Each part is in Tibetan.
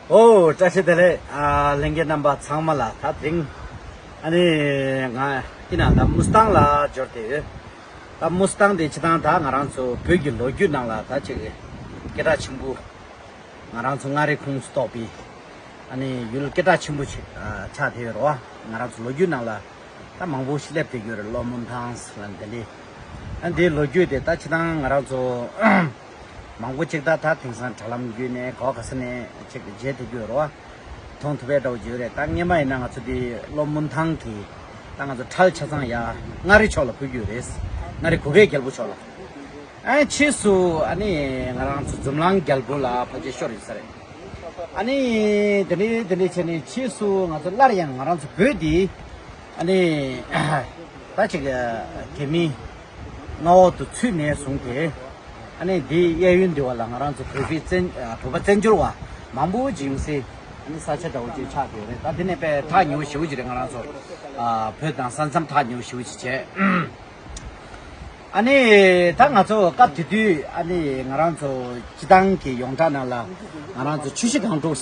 ཨོའོ་བཀྲ་ཤིས་བདེ་ལེགས། གླིང་རྒྱལ་རྣམ་པ་ཚང་མ་ལ་ད་དེང་ཨ་ནི་ང་སྐྱིད་ན་ད་མུ་སྟང་ལ་འབྱོར་ཏེ་ཡོད། ད་མུ་སྟང་དེ་ཆི་ཐང་ད་ང་རང་ཚོ་བོད་ཀྱི་ལོ་རྒྱུས་ནང་ལ་ད་ཅིག་སྐད་གྲགས་ཆེན་པོ། ང་རང་ཚོ་མངའ་རིས་ཁུངས་སུ་གཏོགས་པའི་ཨ་ནི་ཡུལ་སྐད་གྲགས་ཆེན་པོ་ཆིག་ཆགས་དེ་ཡོད་རེད་བ། ང་རང་ཚོ་ལོ་རྒྱུས་ནང་ལ་ད་མང་པོ་ཞིག་སླེབས་ཏེ་ཡོད་རེད་ལོ་མུན་ཐང་ལ་འདི་ལི། ཨ་ནི་དེའི་ལོ་རྒྱུས་དེ་ད་ཆི་ཐང་ང་རང་ཚོ། མང་པོ་གཅིག་ཏག་ཏག་དེང་སང་དྲ་ལམ་བརྒྱུད་ནས་གོ་ག་ས་ནས་ཅིག་མཇལ་ཐུབ་རྒྱུ་ཡོད་རེད་བ། མཐོང་ཐུབ་པས་འདྲ་བོ་བརྗོད་རེད་ད་རྔན་པ་ཡིན་ན་ང་ཚོ་འདི་ལོ་སྨུན་ཐང་གི་ད་ང་ཚོ་ཁྲལ་ཆ་ཚང་ཡ་མངའ་རི་ཕྱོགས་ལ་འཕུད་རྒྱུ་རེད། མངའ་རི་གུ་གེ་རྒྱལ་པོ་ཕྱོགས་ལ། ཨ་ཕྱིས་སུ་ཨ་ནི་ང་རང་ཚོ་འཛུམ་ལང་རྒྱལ་པོ་ལ་ཕ་ཅེ་ཤོར་ཡོད་ས་རེད། ཨ་ནི་དེ་འདྲས་དེ་འདྲས་བྱས་ནས་ཕྱིས་སུ་ང་ཚོ་སླར་ཡང་ང་རང་ཚོ་བོད་འདི་ཨ་ནི་ད་ཅིག་དེ་མིན་མངའ་འོག་ཏུ་ཚུད་ནས་བཟུང་སྟེ། ཨ་ནི་འདིའི་གཡས་གཡོན་འདི་བ་ལ་ང་རང་ཚོ་བོད་པའི་བཙན། བོད་པ་བཙན་བྱོལ་བ་མང་པོ་ཅིག་ཡོང་སའི་ཨ་ནི་ས་ཆ་འདྲ་བོ་ཅིག་ཆགས་ཀྱི་ཡོད་རེད་ད་འདི་ནས་པས་ཐག་ཉེ་བོ་ཞེ་བོ་ཅིག་རེད་ང་རང་ཚོ། བོད་དང་ས་མཚམས་ཐག་ཉེ་བོ་ཞེ་བོ་ཅིག་བྱས། ཨ་ནི་ད་ང་ཚོ་སྐབས་དེ་དུས་ཨ་ནི་ང་རང་ཚོ་སྤྱི་བཏང་གི་ཡོངས་གྲགས་ནང་ལ་ང་རང་ཚོ་ཆུ་བཞི་སྒང་དྲུག།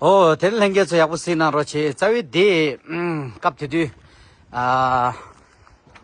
ཨོ་དེར་ལྷན་རྒྱས་ཚོ་ཡག་པོ་བསྲིས་གནང་རོགས་བྱས་རྩ་བའི་དེ་སྐབས་དེ་དུས་ཨ་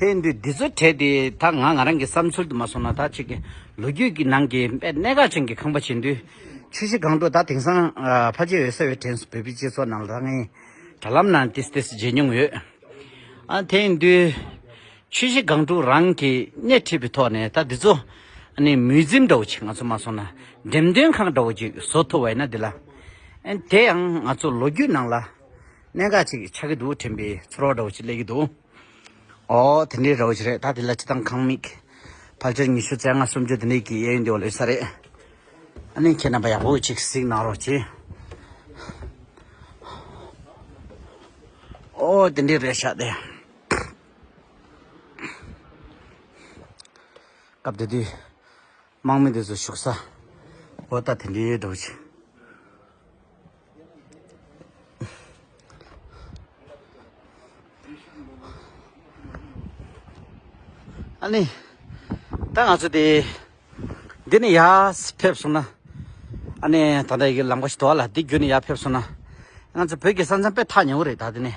དེ་འདི་འདི་ཚོ་དྲས་ཏེ་ད་ང་ང་རང་གི་བསམ་ཚུལ་དུ་མ་སོང་ན་ད་ཅིག་ལོ་རྒྱུས་ཀྱི་ནང་གི་དཔེ་གནད་འགག་ཅན་གྱི་ཁང་པ་བྱེད་དུས་ཆུ་བཞི་སྒང་དྲུག་ད་དེང་སང་ཕ་རྗེས་འོད་གསལ་བའི་དྲན་སོང་བོད་པའི་སྤྱི་ཚོགས་ནང་ལ་ད་ངའི་དྲ་ལམ་ནང་ཏིས་ཏིས་མཇལ་མྱོང་ཡོད། ཨ་དེ་ཡིན་དུས་ཆུ་བཞི་སྒང་དྲུག་རང་གིས་སྣེ་ཁྲིད་པའི་ཐོག་ནས་ད་འདི་ཚོ་ནི་མུས་འཛིམ་འདྲ་བོ་ཆེ་ང་ཚོ་མ་སོང་ན་འགྲེམས་སྟོན་ཁང་འདྲ་བོ་ཅིག་བཟོ་ཐུབ་བ་ཡིན་ན་འདི་ལ་དེ་ཡང་ང་ཚོ་ལོ་རྒྱུས་ནང་ལ། གནད་འགག་ཅིག་ཆགས་ཀྱི་འདུག་དྲན་པའི་ཚོར་བ་འདྲ་བོ་ཅིག་སླེབས་ཀྱི་འདུག་ཨོ་དེ་འདྲའི་རེད་འོ་ཅི་རེད་ད་དེ་ལ་ཅི་དང་གང་དམིགས། ཕལ་ཆེར་ཉི་ཤུ་རྩ་ལྔ་སུམ་ཅུ་དེ་འདྲའི་གི་གཡས་གཡོན་དེ་བ་ལོས་ས་རེད། ཨ་ནི་ཁྱེད་རྣམ་པ་ཡག་པོ་ཅིག་གཟིགས་གནང་རོགས་གྱིས། ཨོ་དེ་འདྲའི་རེད་ཤག་དེ། སྐབས་དེ་དུས། དམག་མི་དེ་ཚོ་བཞུགས་ས་པོ་ལྟ་དེ་འདྲའི་འགྲོ་ཅིག། ཨ་ནི། ད་ང་ཚོ་དེ་འདི་ནས་ཡར་ཕེབས་སོང་ན། ཨ་ནི་ད་ལྟ་ཡི་གེ་ལམ་ཁ་ཞིག་དོར་བ་ལ་འདི་བརྒྱུད་ནས་ཡར་ཕེབས་སོང་ན། ང་ཚོ་བོད་ཀྱི་ས་མཚམས་དཔེ་ཐག་ཉེ་བོ་རེད་ད་དེ་ནས།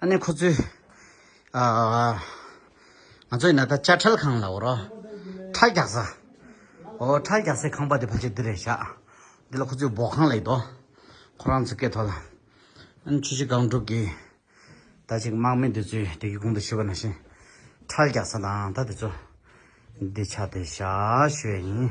ཨ་ནེ་ཁོ་ཚོས་ང་ཚོ་ཡིན་ན་ད་དཔྱ་ཁྲལ་ཁང་ལ་འོ་རོགས་ཁྲལ་རྒྱག་ས་འོ་ཁྲལ་རྒྱག་སའི་ཁང་པ་དེ་ཕལ་ཆེར་འདི་རེད་བཞག་འདི་ལ་ཁོ་ཚོས་འབོག་ཁང་ལ་ཡོད་དོ་ཁོ་རང་ཚོའི་སྐད་ཐོག་ལ་ཨན་ཆུ་བྱི་སྒང་དྲུག་གི་ད་ཅིག་དམག་མི་འདི་ཚོས་དེ་གི་གུང་དུ་ཤི་བ་ན་བཞིན་ཁྲལ་རྒྱག་ས་དང་ད་དེ་ཚོ་འདི་ཆ་དེ་བཞག་ཞུས་ཡ་ཡིན།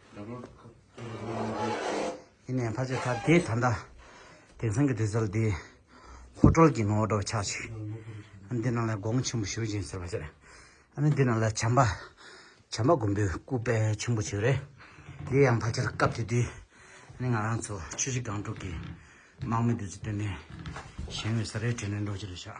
ཡིན་ནའི་ཕ་ཆེ་ད་དེ་ད་ལྟ་དེང་སང་གི་དུས་ཚོད་ལ་དེ་ཧོ་ཀྲོལ་གྱི་ངོ་བྲོ་ཆགས་ཤིག་འདི་རྣམས་ལ་དགོངས་ཆེན་པོ་ཞུ་བཞིན་ཟེར་བ་ཟེར་ཨ་ནི་འདི་རྣམས་ལ་བྱམས་པ་བྱམས་པ་མགོན་པོའི་སྐུ་དཔལ་ཆེན་པོ་ཞིག་རེད་དེ་ཡང་ཕ་ཆེར་སྐབས་དེ་དུས་ནི་ང་རང་ཚོ་ཆུ་བཞི་སྒང་དྲུག་གི་དམག་མི་དུས་ཚོད་སྟོན་ནས་གཞན་བའི་ས་རའི་གྲལ་ནས་འགྲོ་ཅི་རེད་ཤག།